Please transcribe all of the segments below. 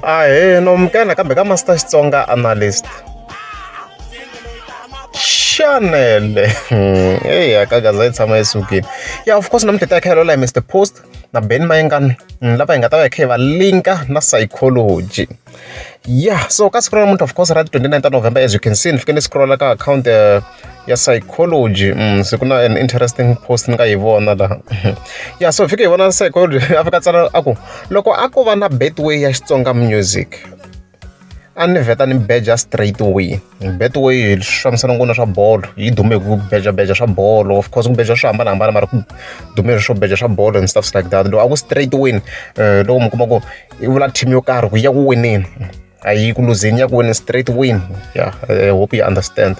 Ahee nomkana kambe ka Master Xitsonga Analyst. Chanele. Hey, akagaza yi tshama yi sukile. Yeah, of course namuntlha ta khayelo la Mr Post na Ben Mayengani mm, lava hi nga ta va hi kha hi va linka na psychology. Yeah, so ka siku ra namuntlha of course ra 29 ta November as you can see ni fike ni scrolla ka account uh, ya psychology se ku na an interesting post ni nga yi vona laha ya so fika hi vona psychology a fika tsala a ku loko a ko va na betway ya xitsonga music a ni vheta ni beja straight away betway swi fambisana ngona swa bolo yi dume hi ku beja beja swa bolo of course ku beja swo hambanahambana mara ku dume swo beja swa bolo and stuffs like that loko a ku straight win loko mi kuma ku i vula team yo karhi ku ya ku wineni a yi ku luzeni ya ku wena straight win ya i hope you understand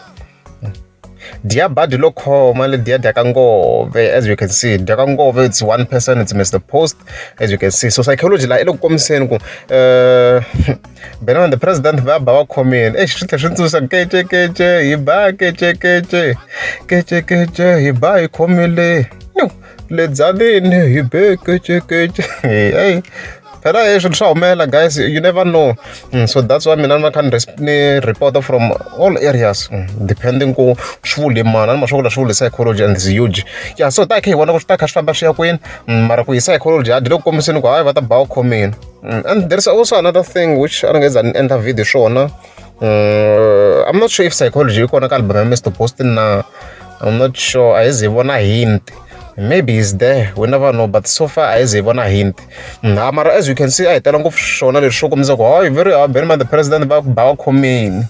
dia badi lo khoma le dia dya ka ngove as you can see dya ka ngove it's one person it's mr post as you can see so psychology la i le ku kombiseni ku uh, benana the president va ba va khomeni exi swi tlhe swi tsundzuxa kece kece hi ba kece kece kece kece hi ba hi khomile le byaleni hi be kecekece heyi phela hi swilo swa humelela guys you never know mm, so that's why mina ni va kha ni reporter from all areas mm, depending ku swi vule mana ni maswakula swi vule psychology and huge ya so ta khe hi vona ku swi ta kha swi famba swi ya kwini mm, mara ku hi psychology a dyi le ku kombiseni ku hayi va ta ba u khomini and there's also another thing which a ni nge za ni endla video swona mm, i'm not sure if psychology yi kona ka album ya mr boston na i'm not sure a yi ze yi vona hint maybe is there we never know but so far a yi ze yi vona hint na mara as you can see a hi tela ngopfu swona leswi swo kombisa ku oh very very man the president va ba va khomini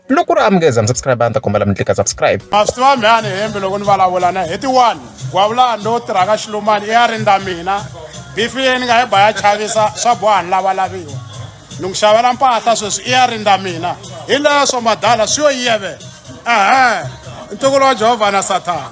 loko ri amukeza mi subscribe a ni ta kombela mi tlika subscribe a swi tiva mhani hembe loko ni vulavula na heti one gwavulani lowu tirhaka xilumani i ya rindza mina bifi leyi ni nga yi ba ya chavisa swa boha ni lavalaviwa ni ku xavela mpahla sweswi i ya rindza mina hi leswo madala swi yo yivela ehe ntukulu wa jehovha na sathana